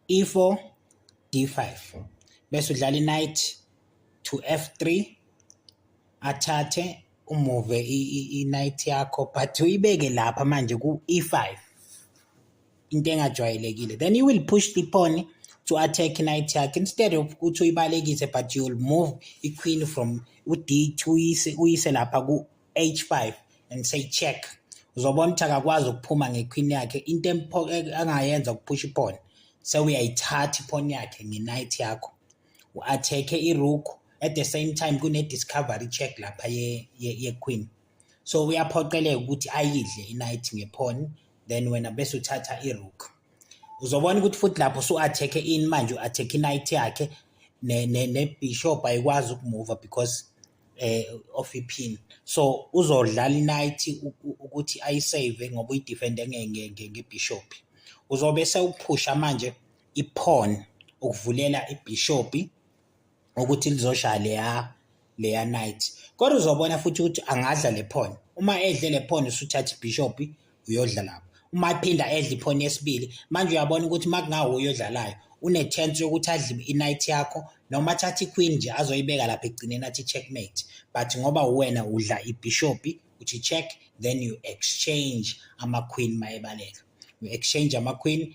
e4 d5 bese udlala i-knight to f3 athathe umuve i-knight yakho but uyibeke lapha manje ku-e5 into engajwayelekile then you will push the pawn to attack knight yakhe instead of ukuthi uyibalekise but you will move i-queen from u-d2 uyise lapha ku H5 and say check uzobona ukuthi akakwazi ukuphuma ngequeen yakhe into angayenza ukuphusha iphone sewuyayithatha iphone yakhe ngenight yakho u-athekhe iruku at the same time kune-discovery check lapha ye-queen ye, ye so uyaphoqeleka ukuthi ayidle inight ngephone then wena bese uthatha irook uzobona ukuthi futhi lapho usu-athekhe in manje u-athekhe inight yakhe nebishop ayikwazi ukumuva because eh of ipin so uzodlala inight ukuthi ayisave ngoba uyidefende ngebishop uzobe sewuphusha manje ipawn ukuvulela ibishop ukuthi lizoshaya leya leya night kodwa uzobona futhi ukuthi angadla le pawn uma edle le pawn usuthatha ibishop uyodla lapho uma ephinda edla iphoni yesibili manje uyabona ukuthi uma kungawuye odlalayo une-chance yokuthi adle i-night yakho noma athathe i-queen nje azoyibeka lapha ekugcineni athi checkmate but ngoba uwena udla ibhishopi uthi check then you exchange ama-queen mayebaleka you exchange ama-queen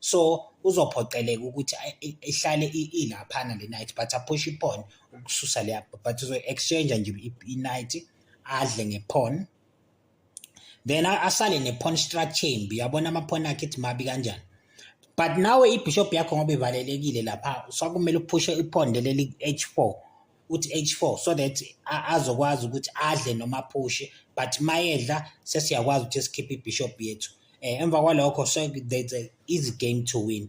so uzophoqeleka ukuthi ihlale ilaphana le night but aphushe iphon ukususa leya but uzo-exchange nje i-night adle ngephon then asale nephon structure mbi yabona amaphon akhe ithi mabi kanjani but nawe ibishop yakho ngoba ivalelekile lapha sokumele uphushe iphondo leli-h4 uthi H4 so that azokwazi ukuthi adle noma aphushe but mayedla sesiyakwazi ukuthi sikhiphe ibishop yethu eh emva kwalokho so there's a easy game to win